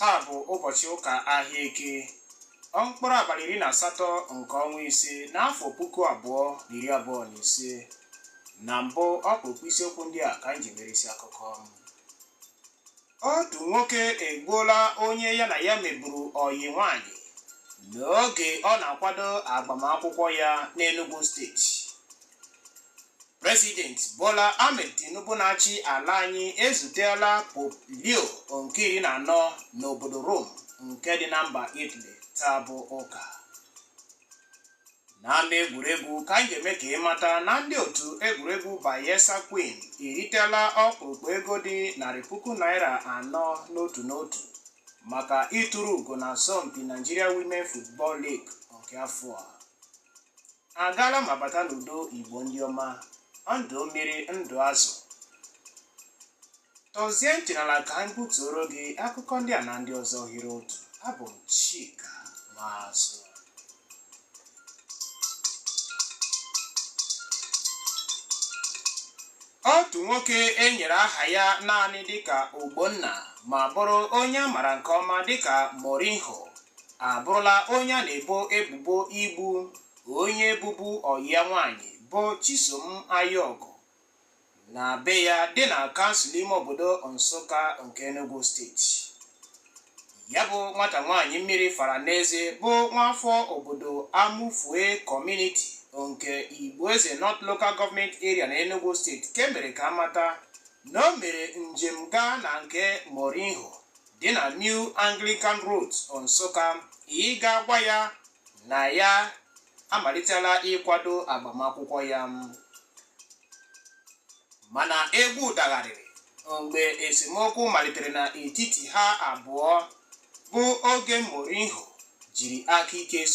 taa bụ ụbọchị ụka ahịa eke mkpụrụ abalị iri na asatọ nke ọnwa ise n'afọ puku abụọ na iri abụọ na ise na mbụ ọkpụrụkpụ isiokwu ndị a ka anyị ji mere isi akụkọ otu nwoke egbuola onye ya na ya meburu ọyị nwanyị n'oge ọ na-akwado agbamakwụkwọ ya n'Enugu steeti President Bola Ahmed Tinubu na-achị ala anyị ezutela Pope Leo nke iri na anọ n'obodo Rome nke dị na mba Italy taa bụ ụka n'ama egwuregwu ka anyị ga-eme ka ị mata na ndị otu egwuregwu Bayelsa Queen eritela ọkpụrụkpụ ego dị narị puku naira anọ n'otu n'otu maka ituru ugo na asọmpi Nigeria Women Football League nke afọ a agaala ma bata n'udo igbo ndị ọma ndụ mmiri ndụ azụ tọzie ntị n'ala ka anyị butuoro gị akụkọ ndị a na ndị ọzọ hiri otu abụ m chika nwazụ otu nwoke e nyere aha ya naanị dịka ogbonna ma bụrụ onye a mara nke ọma dịka mourinho abụrụla onye a na-ebo ebubo igbu onye bụbu ọyị ya nwaanyị bụ Chisom Ayọgụ na be ya dị na kansụl ime obodo Nsụka nke Enugu steeti ya bụ nwata nwaanyị mmiri fara n'eze bụ nwaafọ obodo Amufie kọmuniti nke Igboeze North Local Government Area na Enugu steeti ka e mere ka a mata na o mere njem gaa na nke Mourinho dị na New Anglican Road Nsụka ịga agwa ya na ya amalitela ịkwado agbamakwụkwọ ya mana egwu dagharịrị mgbe esemokwu malitere n'etiti ha abụọ bụ oge Mourinho jiri aka ike so